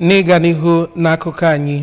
N'ịga n'ihu n'akụkọ anyị,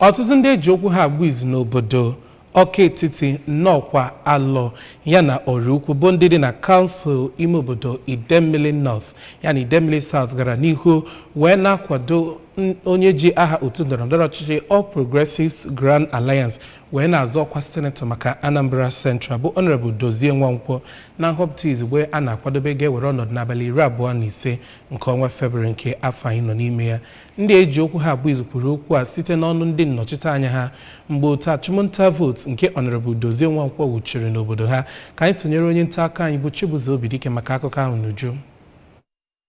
ọtụtụ ndị eji okwu ha agba izu n'obodo Ọka Etiti, Nnọkwa, Alọ yana Ọraukwu bụ ndị dị na kansụl ime obodo Idemili North yana Idemili South gara n'ihu wee na-akwado onye ji aha otu ndọrọndọrọ ọchịchị All Progressives Grand Alliance wee na-azọ ọkwa senetọ maka Anambra Central bụ Honorable Dozie Nwankwo na nhọpụta izugbe a na-akwadobe ga-ewere ọnọdụ n'abalị iri abụọ na ise nke ọnwa Febrụwarị nke afọ anyị nọ n'ime ya ndị eji okwu ha agba izu kwuru okwu a site n'ọnụ ndị nnọchiteanya ha mgbe otu achụmnta vootu nke Honorable Dozie Nwankwo wuchiri n'obodo ha ka anyị sonyere onye nta akụkọ anyị bụ Chibuzo Obidike maka akụkọ ahụ n'uju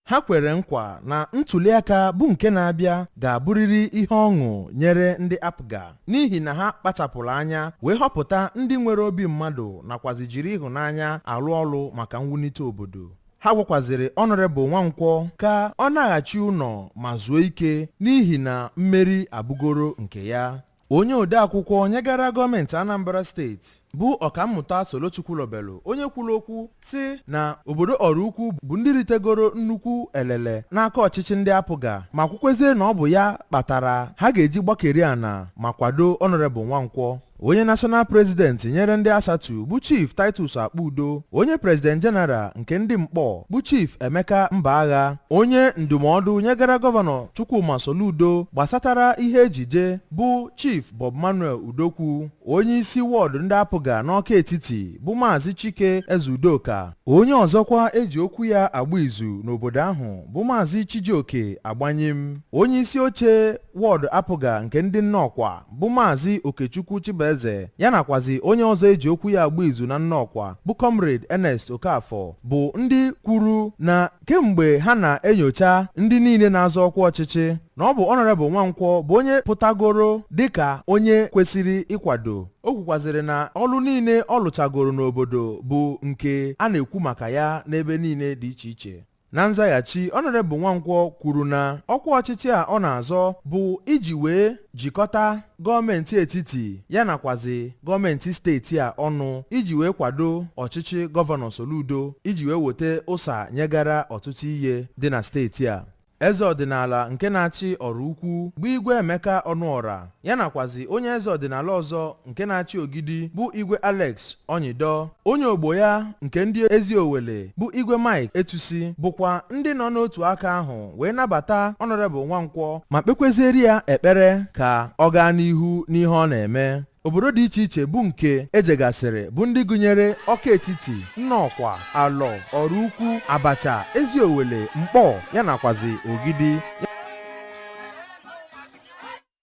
ha kwere nkwa na ntuliaka bụ nke na-abịa ga-abụrịrị ihe ọṅụ nyere ndị APGA n'ihi na ha kpachapụrụ anya wee họpụta ndị nwere obi mmadụ nakwazi jiri ịhụnanya alụ ọlụ maka mwunite obodo ha gwakwazịrị Honorable nwankwọ ka ọ naghachi ụnọ ma zuo ike n'ihi na mmeri abụgoro nke ya onye odeakwụkwọ nyegara gọọmenti anambra steeti bụ ọkammụta Solo Chukwulobelu onye kwuru okwu sị na obodo Ọraukwu bụ ndị ritegoro nnukwu elele n'aka ọchịchị ndị APGA ma kwukwezie na ọ bụ ya kpatara ha ga-eji gbakeri ana ma kwado Honorable nwankwọ onye national president nyere ndị ASATU bụ chief titus Akpudo onye president general nke ndị Nkpọ bụ chief emeka Mbagha onye ndụmọdụ nyegara gọvanọ chukwuma soludo gbasatara ihe ejije bụ chief bob manuel udokwu onye isi wọdụ ndị APGA n'ọka etiti bụ maazị chike ezeudoka onye ọzọkwa eji okwu ya agba izu n'obodo ahụ bụ maazị chijioke agbanyim onye isi oche wọdụ APGA nke ndị Nnọkwa bụ Maazị Okechukwu Chibueze ya nakwazi onye ọzọ eji okwu ya agba izu na Nnọkwa bụ Comrade Ernest Okafor bụ ndị kwuru na kemgbe ha na-enyocha ndị niile na-azọ ọkwa ọchịchị na ọ bụ Honorable Nwankwọ bụ onye pụtagoro dịka onye kwesịrị ịkwado o kwukwazịrị na ọlụ niile ọ lụchagoro n'obodo bụ nke a na-ekwu maka ya n'ebe niile dị iche iche Na nzaghachi, Honorable Nwankwọ kwuru na ọkwa ọchịchị a ọ na-azọ bụ iji wee jikọta gọọmenti etiti ya nakwazi gọọmenti steeti a ọnụ iji wee kwado ọchịchị gọvanọ Soludo iji wee weta ụsa nyegara ọtụtụ ihe dị na steeti a. Eze ọdịnala nke na-achị Ọraukwu bụ Igwe Emeka Ọnụọra ya nakwazi onye eze ọdịnala ọzọ nke na-achị Ogidi bụ Igwe Alex Onyido onye ogbo ya nke ndị ezi Owele bụ Igwe Mike Etusi bụkwa ndị nọ n'otu aka ahụ wee nabata Honorable Nwankwọ ma kpekwezieri ya ekpere ka ọ gaa n'ihu n'ihe ọ na-eme obodo dị iche iche bụ nke e jegasịrị bụ ndị gụnyere ọka etiti nnọkwa alọ ọraukwu abacha ezi owele mkpọ ya nakwazi ogidi